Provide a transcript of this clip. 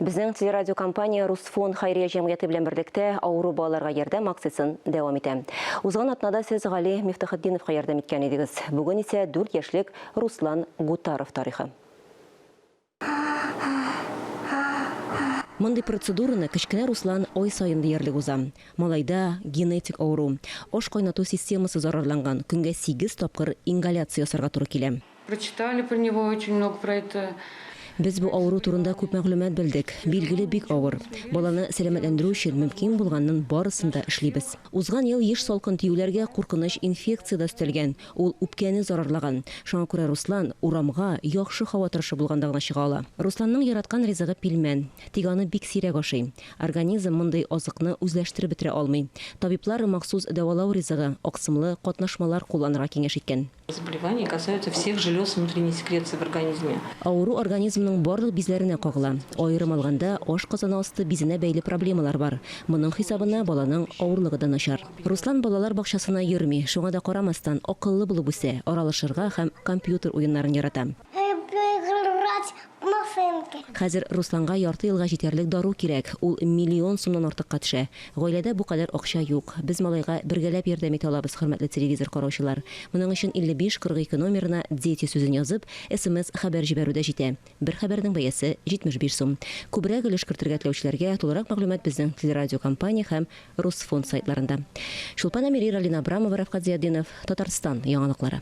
Безнең телерадиокомпания Русфонд хәйрия җәмгыяте белән берлектә авыру балаларга ярдәм акциясен дәвам итә. Узган атнада сез Гали Мифтахетдиновка ярдәм иткән идегез. Бүген исә дүрт яшьлек Руслан Гутаров тарихы. Мондый процедураны кечкенә Руслан ай саен диярлек уза. Малайда, генетик авыру, аш кайнату системасы зарарланган, көнгә сигез тапкыр ингаляция ясарга туры килә. Прочитали про него очень много про это. Без бу авыру турында күп мәгълүмат белдек. Билгеле, бик авыр. Баланы сәламәтләндерү өчен мөмкин булганның барысын да эшлибез. Узган ел еш салкын тиюләргә куркыныч инфекция дә өстәлгән. Ул үпкәне зарарлаган. Шуңа күрә Руслан урамга, яхшы һава торышы булганда гына чыга ала. Русланның яраткан ризыгы пилмән. Тик аны бик сирәк ашый. Организм мондый азыкны үзләштереп бетерә алмый. Табиблар махсус дәвалау ризыгы, аксымлы катнашмалар кулланырга киңәш иткән. Заболевание касаются всех желез внутренней секреции в организме. Авыру организмның барлык бизләренә кагыла. Аерым алганда, ашказаны асты бизенә бәйле проблемалар бар. Моның хисабына баланың авырлыгы да начар. Руслан балалар бакчасына йөрми, шуңа да карамастан, акыллы булып үсә, аралашырга һәм компьютер уеннарын ярата. Хәзер Русланга ярты елга җитәрлек дару кирәк, ул миллион сумнан артыкка төшә. Гаиләдә бу кадәр акча юк. Без малайга бергәләп ярдәм итә алабыз, хөрмәтле телевизор караучылар. Моның өчен 5542 номерына Дети сүзен язып, смс хәбәр җибәрү дә җитә. Бер хәбәрнең бәясе 75 сум. Күбрәк өлеш кертергә теләүчеләргә тулырак мәгълүмат безнең телерадиокомпания һәм Русфонд сайтларында. Чулпан Әмири, Ралина Абрамова, Рәфкать Зыятдинов, Татарстан яңалыклары.